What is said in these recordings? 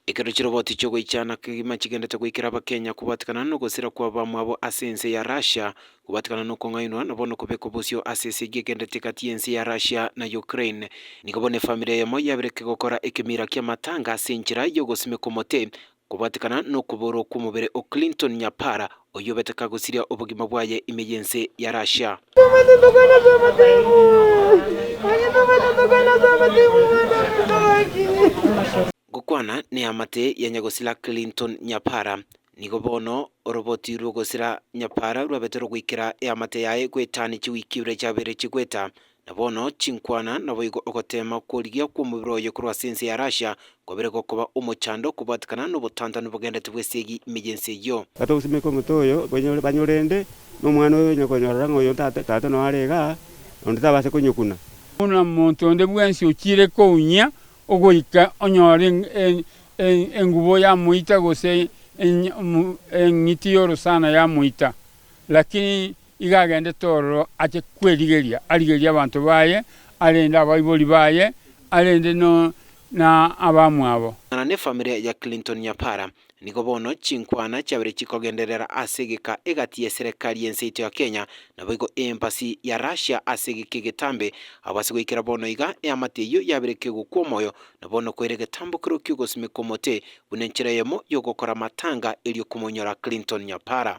Ekero chiroboti chi'ogoichana kegima chigendete goikera Abakenya kobatikana nogosira kwa bamwabo ase ense ya Russia, kobatikana nokong'ainwa na bono kobekwa bosio ase esegi egendete egati y'ense ya Russia na Ukraine. Nigo bono efamiri eyemo yabereke gokora ekemira ki'amatanga ase enchera y'ogosimeka omote, kobatikana nokoboorwa kw'omobere o Clinton Nyapara, Oyio obeteka gosiria obogima bwaye ime y'ense ya Russia. Gokwana neamate ya nyagosira Clinton Nyapara, nigo bono oroboti rw'ogosira Nyapara rwabete rogoikera eamate yaye goetani chiwiki ibere chiabeire chigoeta Na bono chinkwana naboigo ogoteema kw'origia kw'omobere oye korwa ase ense ya Russia kwabire gokoba omochando kobwatekana nobotantanu bogendete bw'esegi ime y'ense eyio. Kata ogosimeka omote oyo banyore, banyore inde, na omwana oyo onye konyorora ng'a oyo ntate, tata noyo are igaa, onde tabase konyokuna. Buna omonto onde bwensi ochiire kounyia ogoika onyore engubo ya moita gose eng'iti y'orosana ya moita, lakini Igo agendete ororo ache kwerigeria arigerie abanto baye, arende abaibori baye, arende na abamwabo. Amang'ana ne family ya Clinton Nyapara. Nigo bono chinkwana chiabere chikogenderera ase egeka egati ye serekari y'ense yaito ya Kenya, naboigo eembassy ya Russia ase egeka egetambe. Abo ase goikera bono iga, eamate eyio yabere kegokwa omoyo, na bono koire egetambokero ki'ogosimeka omote buna enchera eyemo y'ogokora amatanga erio komonyora Clinton Nyapara.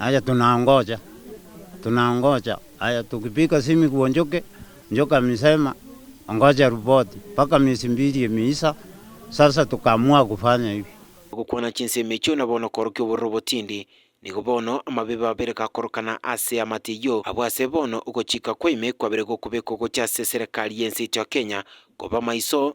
Aye tunangoja, tunangoja, aye tukipika simi kwa njoke, njoke amesema ongoje ripoti mpaka miezi mbili imeisha, sasa tukaamua kufanya hivi. Ogokwana chinsemo echio na bono okorokia obororo botindi, nigo bono amabebe abere gakorokana ase amato eyio. Abwo ase bono ogochika kwa ime kwabere gokobekwa gocha ase eserekari y'ense eito ya Kenya, koba maiso